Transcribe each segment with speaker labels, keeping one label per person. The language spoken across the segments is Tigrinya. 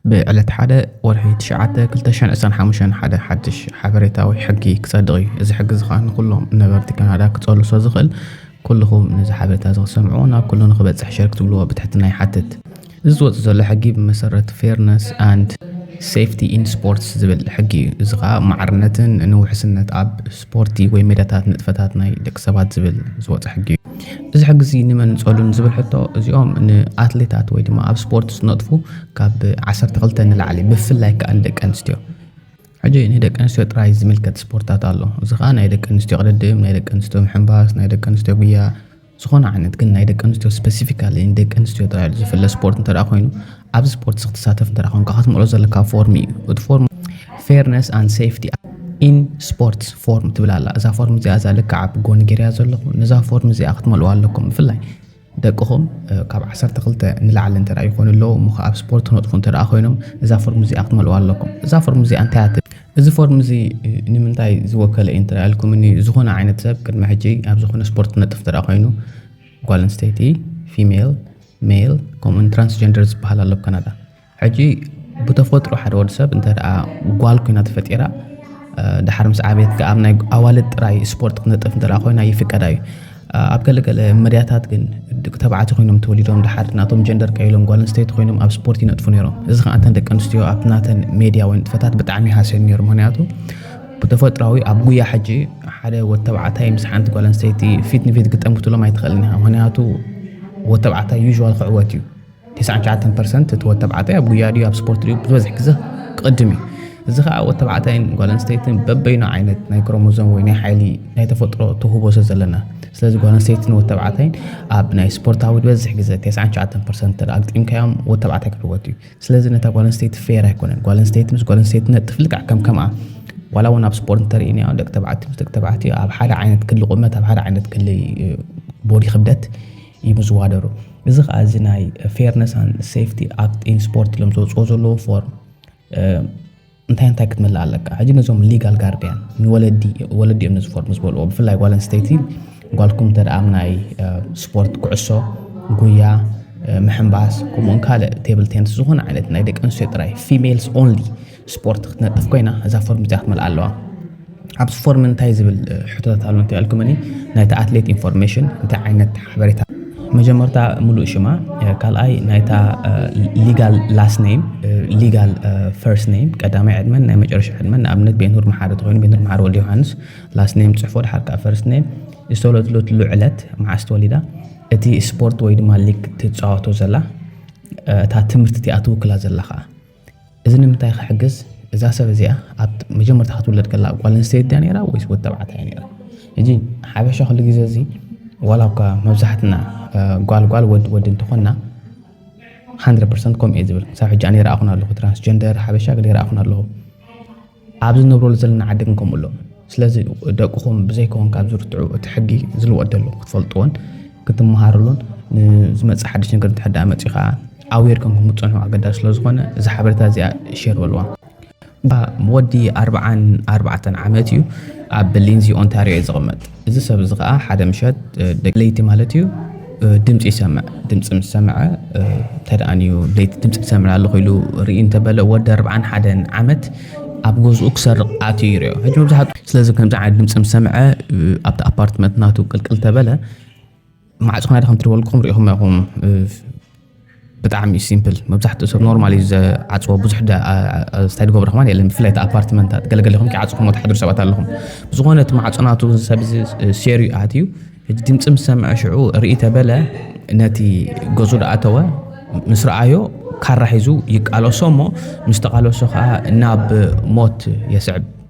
Speaker 1: ብዕለት ሓደ ወርሒ ትሽዓተ ክልተ ሽሕን ዕስራን ሓሙሽተን ሓደ ሓድሽ ሓበሬታዊ ሕጊ ክጸድቕ እዩ። እዚ ሕጊ እዚ ከኣ ንኹሎም ነበርቲ ካናዳ ክጸሉ ስለ ዝኽእል ኩልኹም ነዚ ሓበሬታ እዚ ክትሰምዕዎ ናብ ኩሉ ንኽበጽሕ ሸር ክትብልዎ ብትሕትና ይሓትት። እዚ ዝወጽእ ዘሎ ሕጊ ብመሰረት ፌርነስ ኣንድ ሴፍቲ ኢን ስፖርትስ ዝብል ሕጊ እዩ። እዚ ከኣ ማዕርነትን ንውሕስነት ኣብ ስፖርቲ ወይ ሜዳታት ንጥፈታት ናይ ደቂ ሰባት ዝብል ዝወፀ ሕጊ እዩ። እዚ ሕጊ እዚ ንመን ጸሉን ዝብል ሕቶ እዚኦም ንኣትሌታት ወይ ድማ ኣብ ስፖርት ዝነጥፉ ካብ ዓሰርተ ክልተ ንላዕሊ ብፍላይ ከዓ ንደቂ ኣንስትዮ ሕጂ ንደቂ ኣንስትዮ ጥራይ ዝምልከት ስፖርታት ኣሎ እዚ ከዓ ናይ ደቂ ኣንስትዮ ቅድድም ናይ ደቂ ኣንስትዮ ምሕንባስ ናይ ደቂ ኣንስትዮ ጉያ ዝኾነ ዓይነት ግን ናይ ደቂ ኣንስትዮ ስፐሲፊካሊ ንደቂ ኣንስትዮ ጥራይ ኢሉ ዝፍለ ስፖርት እንተ ኮይኑ ኣብዚ ስፖርት እዚ ክትሳተፍ እንተ ኮንካ ክትምልኦ ዘለካ ፎርም እዩ እቲ ፎርም ፌርነስ ኣን ሴፍቲ ኢን ስፖርትስ ፎርም ትብል ኣላ እዛ ፎርም እዚኣ እዛ ልክዓ ብጎኒ ገይርያ ዘለኹ ነዛ ፎርም እዚኣ ክትመልኡ ኣለኩም ብፍላይ ደቅኹም ካብ 12 ንላዕሊ እንተ ይኾኑ ኣለዉ እሞ ኣብ ስፖርት ክነጥፉ እንተ ኮይኖም እዛ ፎርም እዚኣ ክትመልኡ ኣለኩም እዛ ፎርም እዚኣ እንታይ እዚ ፎርም እዚ ንምንታይ ዝወከለ እዩ እንተ ኢልኩምኒ ዝኾነ ዓይነት ሰብ ቅድሚ ሕጂ ኣብ ዝኾነ ስፖርት ዝነጥፍ እንተ ኮይኑ ጓል ኣንስተይቲ ፊሜል ሜል ከምኡውን ትራንስጀንደር ዝበሃል ኣሎ ካናዳ ሕጂ ብተፈጥሮ ሓደ ወዲ ሰብ እንተ ጓል ኮይና ተፈጢራ ድሓር ምስ ዓበየት ከኣ ኣብ ናይ ኣዋልድ ጥራይ ስፖርት ክትነጥፍ እንተ ኮይና ይፍቀዳ እዩ። ኣብ ገለ ገለ መድያታት ግን ድቂ ተባዕቲ ኮይኖም ተወሊዶም ድሓር ናቶም ጀንደር ቀይሎም ጓል ኣንስተይቲ ኮይኖም ኣብ ስፖርት ይነጥፉ ነይሮም እዚ ከዓ እተን ደቂ ኣንስትዮ ኣብቲ ናተን ሜድያ ወይ ንጥፈታት ብጣዕሚ ይሃስዮም ነይሩ ምክንያቱ ብተፈጥራዊ ኣብ ጉያ ሕጂ ሓደ ወድ ተባዕታይ ምስ ሓንቲ ጓል ኣንስተይቲ ፊት ንፊት ግጠም ክትብሎም ኣይትኽእልን ኢኻ ምክንያቱ ወድ ተባዕታይ ዩዥዋል ክዕወት እዩ ተስዓን ትሽዓተን ፐርሰንት እቲ ወድ ተባዕታይ ኣብ ጉያ ድዩ ኣብ ስፖርት ድዩ ብዝበዝሕ ግዘ ክቕድም እዩ እዚ ከዓ ወድ ተባዕታይን ጓል ኣንስተይትን በበይኑ ዓይነት ናይ ክሮሞዞም ወይ ናይ ሓይሊ ናይ ተፈጥሮ ተውህቦ ስለ ዘለና ስለዚ ጓል ኣንስተይትን ወድ ተባዕታይን ኣብ ናይ ስፖርታዊ ዝበዝሕ ግዘ 99 ፐርሰንት እንተ ኣግጢምካዮም ወድ ተባዕታይ ክዕወት እዩ ስለዚ ነታ ጓል ኣንስተይቲ ፌር ኣይኮነን ጓል ኣንስተይቲ ምስ ጓል ኣንስተይቲ ነጥፍ ልክዕ ከም ከምኣ ዋላ እውን ኣብ ስፖርት እንተርእናዮ ደቂ ተባዕትዮ ምስ ደቂ ተባዕትዮ ኣብ ሓደ ዓይነት ክሊ ቁመት ኣብ ሓደ ዓይነት ክሊ ቦዲ ክብደት ኢሉ ዝዋደሩ እዚ ከኣ እዚ ናይ ፌርነስ ኣን ሴፍቲ ኣክት ኢን ስፖርት ኢሎም ዘውፅኦ ዘለዎ ፎርም እንታይ እንታይ ክትምልእ ኣለካ ሕጂ ነዞም ሊጋል ጋርድያን ንወለዲ ወለዲ እዮም ነዚ ፎርም ዝበልዎ ብፍላይ ጓል ኣንስተይቲ ጓልኩም እንተ ኣብ ናይ ስፖርት ኩዕሶ ጉያ ምሕንባስ ከምኡውን ካልእ ቴብል ቴንስ ዝኾነ ዓይነት ናይ ደቂ ኣንስትዮ ጥራይ ፊሜልስ ኦንሊ ስፖርት ክትነጥፍ ኮይና እዛ ፎርም እዚኣ ክትመልኣ ኣለዋ ኣብዚ ፎርም እንታይ ዝብል ሕቶታት ኣሎ እንታይ ኣልኩመኒ ናይቲ ኣትሌት ኢንፎርሜሽን እንታይ ዓይነት ሓበሬታ መጀመርታ ሙሉእ ሽማ ካልኣይ ናይታ ሊጋል ላስ ነይም ሊጋል ፈርስት ነይም ቀዳማይ ዕድመን ናይ መጨረሻ ዕድመን ንኣብነት ቤንሁር መሓሪ ተኮይኑ ቤንሁር መሓሪ ወልድ ዮሃንስ ላስ ነይም ፅሑፎ ድሓር ከዓ ፈርስት ነይም ዝተወለድለትሉ ዕለት መዓስ ተወሊዳ እቲ ስፖርት ወይ ድማ ሊግ ትፃወቶ ዘላ እታ ትምህርቲ እቲኣ ትውክላ ዘላ ከዓ እዚ ንምንታይ ክሕግዝ እዛ ሰብ እዚኣ ኣብ መጀመርታ ክትውለድ ከላ ጓል ኣንስተይቲ ድያ ነይራ ወይስ ወዲ ተባዕታይ እያ ነይራ? ሕጂ ሓበሻ ኩሉ ግዜ እዚ ዋላ እኳ መብዛሕትና ጓል ጓል ወዲ ወዲ እንተኾንና 100% ከምኡ እየ ዝብል ክሳብ ሕጂ ኣነ ይረኣኹን ኣለኹ ትራንስጀንደር ሓበሻ ገለ ይረኣኹን ኣለኹ ኣብዚ ንነብረሉ ዘለና ዓዲ ግን ከምኡ ኣሎ ስለዚ ደቅኹም ብዘይከውን ካብ ዝርትዑ እቲ ሕጊ ዝልወጥ ደሎ ክትፈልጥዎን ክትመሃርሉን ንዝመፅእ ሓድሽ ነገር እንተ ደኣ መፂኡ ከዓ ኣዌር ከምኩም ክትፀንሑ ኣገዳሲ ስለ ዝኾነ እዚ ሓበሬታ እዚኣ ሸር በልዋ ወዲ ኣርባዓን ኣርባዕተን ዓመት እዩ ኣብ ሊንዚ ኦንታሪዮ እዩ ዝቕመጥ እዚ ሰብ እዚ ከኣ ሓደ ምሸት ደቂ ለይቲ ማለት እዩ ድምፂ ይሰምዕ ድምፂ ምስ ሰምዐ ተደኣንዩ ለይቲ ድምፂ ትሰምዕ ኣለኹ ኢሉ ርኢ እንተበለ ወዲ ኣርብዓን ሓደን ዓመት ኣብ ገዝኡ ክሰርቕ ኣትዩ ይርዮ ሕጂ መብዛሕትኡ ስለዚ ከምዚ ዓይነት ድምፂ ምስ ሰምዐ ኣብቲ ኣፓርትመንት ናቱ ቅልቅል ተበለ ማዕፆ ክናደ ከምቲ ዝበልኩም ሪኢኹም ኢኹም ብጣዕሚ እዩ ሲምፕል መብዛሕትኡ ሰብ ኖርማል እዩ ዝዓፅዎ ብዙሕ ስታይ ድገብረ ከማን የለን ብፍላይ እቲ ኣፓርትመንታት ገለገለኹም ክዓፅኹም ትሓድሩ ሰባት ኣለኹም ብዝኾነ እቲ ማዕፆ ናቱ ሰብ ሴርዩ ኣትዩ ሕጂ ድምፂ ምስ ሰምዐ ሽዑ ርኢ ተበለ ነቲ ገዙ ድኣተወ ምስ ረኣዮ ካራ ሒዙ ይቃለሶ እሞ ምስ ተቃለሶ ከዓ ናብ ሞት የስዕብ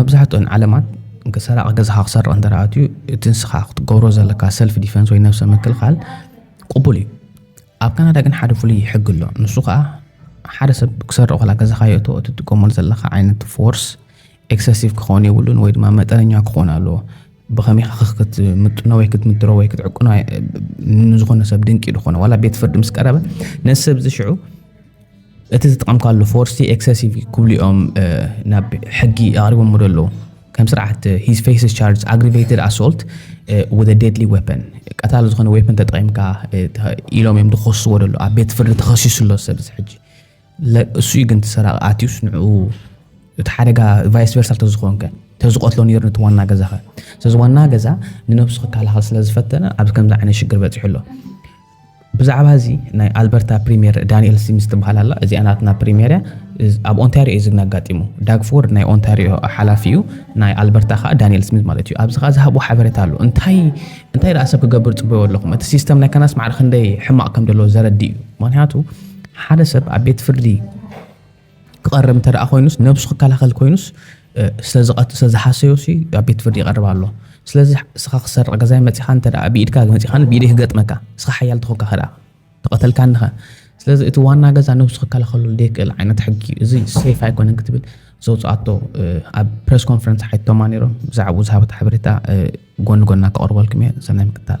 Speaker 2: መብዛሕትኦን ዓለማት
Speaker 1: ሰራቒ ገዛኻ ክሰርቕ እንተ ኣትዩ እቲ ንስኻ ክትገብሮ ዘለካ ሰልፍ ዲፈንስ ወይ ነብሰ ምክልኻል ቅቡል እዩ። ኣብ ካናዳ ግን ሓደ ፍሉይ ሕጊ ኣሎ። ንሱ ከዓ ሓደ ሰብ ክሰርቕ ከላ ገዛኻ የእቶ እትጥቀመሉ ዘለካ ዓይነት ፎርስ ኤክሰሲቭ ክኸውን የብሉን ወይ ድማ መጠነኛ ክኾን ኣለዎ። ብኸመይ ኢኻ ክትምጥኖ ወይ ክትምድሮ ወይ ክትዕቅኖ ንዝኾነ ሰብ ድንቂ ዝኾነ ዋላ ቤት ፍርዲ ምስ ቀረበ ነዚ ሰብ ዝሽዑ እቲ ዝጥቀምካሉ ፎርሲ ኤክሰሲቭ ክብሉ እዮም ናብ ሕጊ ኣቕሪቦም ዶ ኣለዉ ከም ስርዓት ሂዝ ፌስ ቻርጅ ኣግሪቬትድ ኣሶልት ወደ ዴድሊ ዌፐን ቀታሊ ዝኾነ ዌፐን ተጠቒምካ ኢሎም እዮም ዝኸስዎ ደሎ ኣብ ቤት ፍርዲ ተኸሲሱ ኣሎ ሰብ እዚ ሕጂ እሱ እዩ ግን ሰራቂ ኣትዩስ ንዕኡ እቲ ሓደጋ ቫይስ ቨርሳ ተዝኾንከ ተዝቆትሎ ነይሩ ነቲ ዋና ገዛኸ ስለዚ ዋና ገዛ ንነብሱ ክከላኸል ስለ ዝፈተነ ኣብዚ ከምዚ ዓይነት ሽግር በፂሑ ኣሎ ብዛዕባ እዚ ናይ ኣልበርታ ፕሪምየር ዳንኤል ሲምስ ትበሃል ኣላ እዚኣ ናትና ፕሪምየር እያ ኣብ ኦንታሪዮ እዩ ዝግና ኣጋጢሙ ዳግፎርድ ናይ ኦንታሪዮ ሓላፊ እዩ ናይ ኣልበርታ ከዓ ዳንኤል ስሚት ማለት እዩ ኣብዚ ከዓ ዝሃብዎ ሓበሬታ ኣሎ እንታይ እንታይ ደኣ ሰብ ክገብር ፅበዮ ኣለኹም እቲ ሲስተም ናይ ከናስ ማዕረ ክንደይ ሕማቕ ከም ዘለዎ ዘረዲ እዩ ምክንያቱ ሓደ ሰብ ኣብ ቤት ፍርዲ ክቐርብ እንተ ደኣ ኮይኑስ ነብሱ ክከላኸል ኮይኑስ ስለዝሓሰዮሲ ኣብ ቤት ፍርዲ ይቐርብ ኣሎ ስለዚ እስኻ ክሰርቕ ገዛይ መፂኻ እንተ ደኣ ብኢድካ መፂኻ ብኢደይ ክገጥመካ እስኻ ሓያል ተኾንካ ከ ደኣ ተቐተልካኒ ኸ ስለዚ እቲ ዋና ገዛ ነብሱ ክከላኸለሉ ዘይክእል ዓይነት ሕጊ እዩ እዚ ሴፍ ኣይኮነን ክትብል ዘውፅኣቶ ኣብ ፕሬስ ኮንፈረንስ ሓይቶማ ነይሮም ብዛዕባኡ ዝሃበት ሓበሬታ ጎኒ ጎና ከቕርበልኩም እየ ሰናይ ምክታል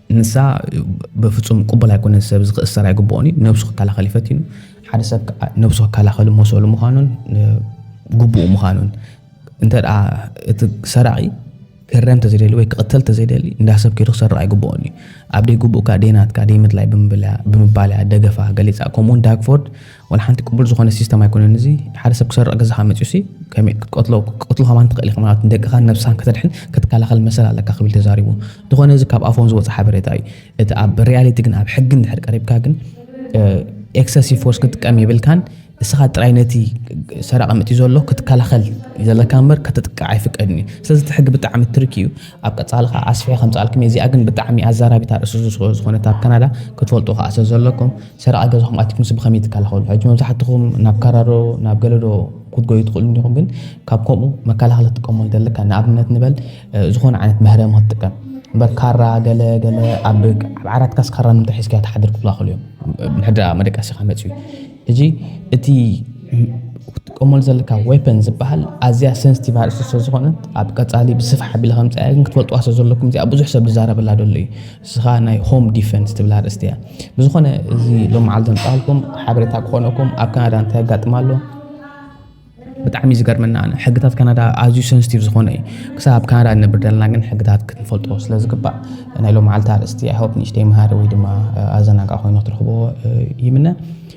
Speaker 1: ንሳ በፍጹም ቅቡል ኣይኮነን ሰብ እዚ ክእሰር ኣይግብኦን እዩ ነብሱ ክከላኸል እዩ ፈቲኑ ሓደ ሰብ ከዓ ነብሱ ክከላኸል መሰሉ ምዃኑን ግቡኡ ምዃኑን እንተ እቲ ሰራቂ ክህረም ተዘይደሊ ወይ ክቕተል ተዘይደሊ እንዳ ሰብ ከይዱ ክሰርቕ ኣይግብኦን እዩ ኣብ ደይ ግቡእካ ደይ ናትካ ደይ ምድላይ ብምባልያ ደገፋ ገሊጻ ከምኡውን ዳግፎርድ ዋላ ሓንቲ ቅቡል ዝኾነ ሲስተም ኣይኮነን እዚ ሓደ ሰብ ክሰርቕ ገዛኻ መፅኡ ሲ ከመይ ክትቀትሎ ክትቀትሎ ከማን ትኽእል ኢኻ ማለት ንደቅኻን ነብስኻን ከተድሕን ክትከላኸል መሰል ኣለካ ክብል ተዛሪቡ ዝኾነ እዚ ካብ ኣፎም ዝወፀ ሓበሬታ እዩ እቲ ኣብ ሪያሊቲ ግን ኣብ ሕጊ እንድሕር ቀሪብካ ግን ኤክሰሲቭ ፎርስ ክትጥቀም የብልካን እስኻ ጥራይ ነቲ ሰራቂ መፅኡ ዘሎ ክትከላኸል ዘለካ እምበር ከተጥቅዕ ኣይፍቀድን እዩ ስለዚ እቲ ሕጊ ብጣዕሚ ትርክ እዩ ኣብ ቀፃሊ ከዓ ኣስፍሐ ከምፃልኩም እዚኣ ግን ብጣዕሚ ኣዛራቢት ኣርእስቲ ዝኾነት ኣብ ካናዳ ክትፈልጡ ከዓ ስለዘለኩም ሰራቒ ገዛኹም ኣትኩምሲ ብኸመይ ትከላኸሉ? ሕጂ መብዛሕትኹም ናብ ካራ ዶ ናብ ገለ ዶ ክትጎዩ ትኽእሉ እንዲኹም፣ ግን ካብ ከምኡ መከላኸሊ ክትጥቀመሉ እንተለካ ንኣብነት ንበል ዝኾነ ዓይነት መህረሚ ክትጥቀም እምበር ካራ ገለ ገለ ኣብ ዓራትካስ ካራ ንምንታይ ሒዝካያ ትሓድር ክብላኽሉ እዮም ምሕድራ መደቀሲኻ መፅዩ እዚ እቲ ክትጥቀመሉ ዘለካ ዌፐን ዝበሃል ኣዝያ ሰንስቲቭ ኣርእስቲ ስለዝኾነት ኣብ ቀፃሊ ብስፍሕ ኣቢለ ከምፅኣያ ግን ክትፈልጥዋ ስለዘለኩም እዚኣ ብዙሕ ሰብ ዝዛረበላ ዘሎ እዩ ንስኻ ናይ ሆም ዲፈንስ ትብል ኣርእስቲ እያ። ብዝኾነ እዚ ሎም መዓልቲ ዘምጻልኩም ሓበሬታ ክኾነኩም ኣብ ካናዳ እንታይ ኣጋጥም ኣሎ ብጣዕሚ ዝገርመና ኣነ ሕግታት ካናዳ ኣዝዩ ሰንስቲቭ ዝኾነ እዩ ክሳብ ኣብ ካናዳ ንነብር ዘለና ግን ሕግታት ክትንፈልጦ ስለ ዝግባእ ናይ ሎም መዓልቲ ኣርእስቲ ኣይሆፕ ንእሽተይ መሃሪ ወይ ድማ ኣዘናጋ ኮይኑ ክትረኽቦ ይምነ